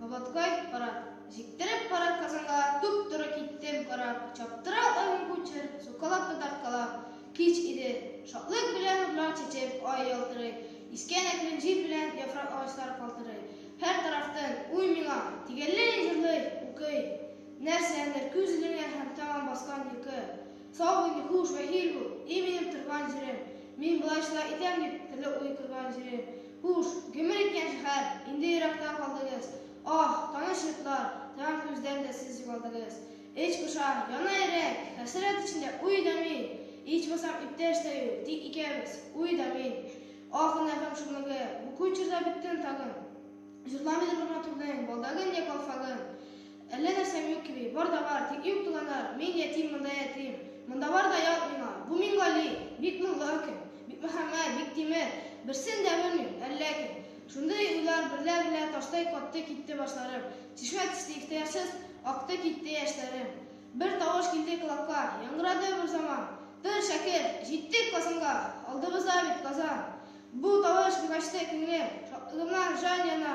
Ободкой кара, җиктереп кара казанга, туп туры киттем кара, чаптыра алмыйм кучер, сукалап та тарткалап. Кич иде, шатлык белән нурлар чәчеп, ай ялтырый, искән әкрен җил белән яфрак агачлар калтырый. Һәр тарафтан уй миңа, тигәлләй җырлый, укый, нәрсәдер күз эленә һәм тәмам баскан йокы. Сау бул, хуш, вәхил бул, и минем торган җирем, Мин болай шулай итәм дип, төрле уй корган җирем. Хуш, гомер иткән шәһәр, инде еракта калдыгыз, Аһ, таныш йортлар, таян күздән дә сез югалдыгыз. Эч поша, яна йөрәк, хәсрәт эчендә уй да мин, Ичмасам, иптәш тә юк, тик икәбез, уй да мин. Аһ, гөнаһым шомлыгы, бу көн чорда беттем тагын, Җырламыйдыр бер матурның балдагын йә калфагын. Әллә нәрсәм юк кеби, бар да бар, тик юк туганнарым, мин ятим, монда ятим. Монда бар да ят миңа. Бу Миңгали, бик моңлы кем, Бикмөхәммәт, Биктимер, берсен дә белмим, әллә кем. Шундый уйлар берлә-берлә таштай катты китте башларым, чишмә төсле ихтыярсыз акты китте яшьләрем. Бер тавыш килде колакка, яңгырады берзаман, Тор, шәкерт, җиттек Казанга, алдыбызда бит Казан! Бу тавыш бик ачты күңелем, шатлыгымнан җан яна.